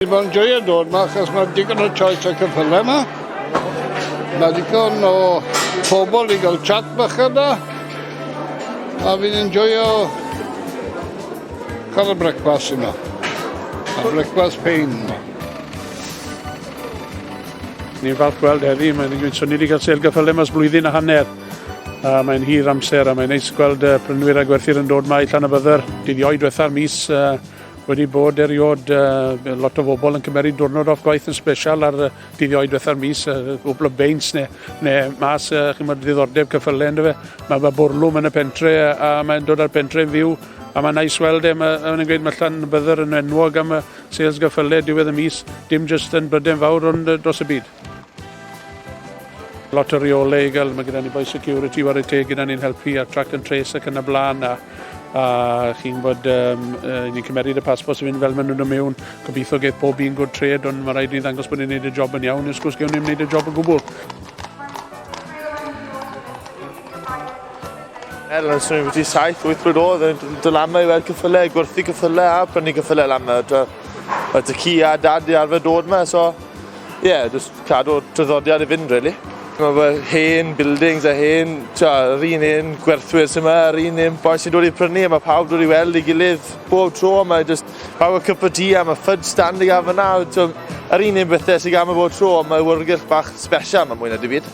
Mae'n joio dod yma achos mae digon o choice o cyffylau yma. Mae digon o pobl i gael chat bach yna. A fi'n enjoyo cael y brecwas yma. A brecwas pein yma. Ni'n falch gweld heddi, mae'n gwneud swn i wedi cael sel gyffylau mas blwyddyn a hanner. A mae'n hir amser a mae'n neis gweld uh, prynwyr a gwerthyr yn dod mae allan y bydder. Dydd ioed diwetha'r mis uh, Wedi bod eriod uh, lot o bobl yn cymeriad diwrnod off gwaith yn special ar uh, dyddiau diwetha'r mis, uh, gwbl o beins neu, neu mas, uh, chi'n mynd ddiddordeb cyffylau ynddo fe. Mae fe bwrlwm yn y pentre a, a mae'n dod ar pentre yn fyw a mae'n nais weld e, mae'n gweud mae llan byddwr yn enwog am y sales gyffylau diwedd y mis, dim jyst yn bryden fawr ond dros y byd. Lot o reole i gael, mae gyda ni boi security war y teg gyda ni'n helpu ar track and trace ac yn y blaen a, a chi'n bod um, ni'n cymeryd y passport sy'n mynd fel maen nhw'n dod mewn. Gobeithio geith pob un good trade ond mae rhaid ni ddangos bod ni'n gwneud y job yn iawn nes gwrs gewn ni'n gwneud y job yn gwbl. Er, os rwy'n wedi 7-8 blwydd oedd yn dod lama i weld cyffyle, gwerthu cyffyle a brynu cyffyle lama. Oedd y ci a dad i arfer dod yma, so Ie, yeah, just cadw traddodiad i fynd, really. Mae fy hen buildings a hen, ta, yr un hen gwerthwyr sy'n yma, yr un hen boi sy'n dod i prynu, a mae pawb dod i weld i gilydd bob tro, mae just pawb y cup o tea a mae ffyd stand i gael fyna, so, yr un hen bethau sy'n gael bob tro, mae wyrgylch bach special, mae mwy na dim byd.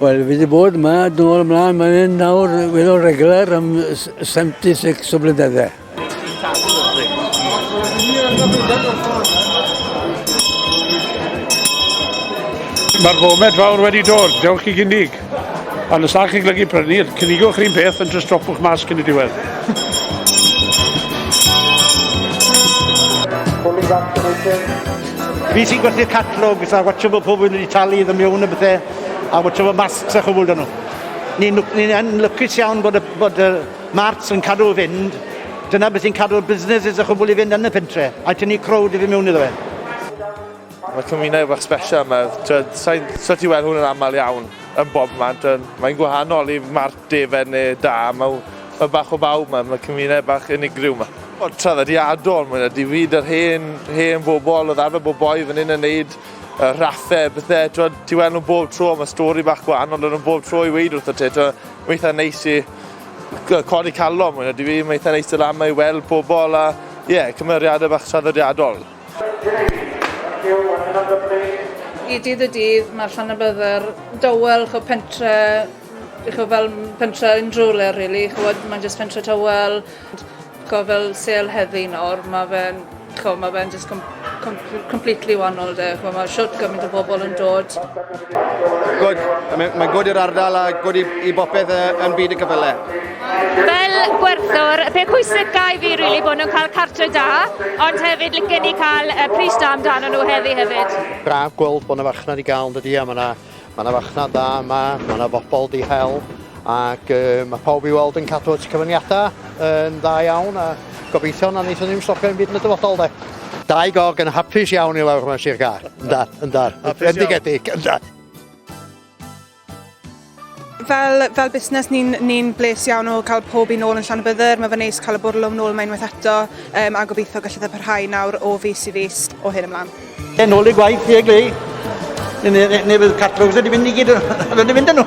Wel, fi wedi bod yma, dyn nhw'n ymlaen, mae'n hyn nawr, weddol regular am 76 o blynyddau. Mae'r fomed fawr wedi dod, dewch i gynnig. A nes a'ch chi'n glygu prynu, cynnigwch yr un peth yn just dropwch mas cyn y diwedd. Pwrlig Fi sy'n gwerthu'r catalogs a watsio fod pobl wedi talu iddo mewn a bethe a watsio fod masks a chwbl 'da nhw. Ni'n lwc- ni'n yn lwcus iawn bod y bod yr marts yn cadw fynd. Dyna beth sy'n cadw'r businesses a chwbl i fynd yn y pentre a tynnu crowd i fyn' mewn iddo fe. Mae cymuned bach sbesial 'ma, t'wod sai'n sa ti'n weld hwn yn amal iawn yn bobman t'wod mae'n gwahanol i mart defen ne' da ma' w- ma' bach o bawb 'ma ma' cymuned bach unigryw 'ma. Wel, traddodiadol, mwy na dim byd, yr hen, hen bobl, oedd arfer bod boi fan hyn yn neud y rhaffe, bydde, twod, ti weld nhw bob tro, mae stori bach gwahanol yn nhw bob tro i weid wrth y ti, twod, mae eitha neis i codi calon, mwy na dim byd, mae eitha neis dod lan mae i weld pobl a, ie, yeah, cymeriadau bach traddodiadol. I dydd y dydd, mae Llanybydder dawel, chwa pentre, chwa fel pentre unrhyw le, rili, chwa mae'n jyst pentre tawel, Ch'o' fel sêl heddi nawr ma' fe'n ch'o' ma' fe'n jyst com- com- completely wa'nol 'de ch'mo' ma' shwt gymaint o bobol yn dod. Good. I mean mae'n good i'r ardal a good i i bopeth yy yn byd y cyfyle. Fel gwerthwr, y peth pwysica i fi rili bo' nw'n ca'l cartre da, ond hefyd licen i ca'l yy pris da amdanyn nhw heddi hefyd. Braf gweld bo' 'na farchnad i ga'l yndydi a ma' 'na Mae yna farchnad dda yma, mae yna bobl di hel ac uh, mae pawb i weld yn cadw at y cyfyniadau yn dda iawn a gobeithio na wnaethon ni'n stopio yn byd yn y dyfodol de. Dau gog yn hapus iawn i lawr yma Sir Gar. Yndar, yndar. Bendigedig, yndar. Fel, fel busnes, ni'n ni bles iawn o cael pob un ôl yn llan y byddyr. Mae fe neis cael y bwrlwm nôl yma unwaith eto um, a gobeithio gallu dda parhau nawr o fus i fus o hyn ymlaen. Yn ôl i gwaith, fi a Glei. Neu fydd catalogs wedi mynd i gyd, wedi mynd â nhw.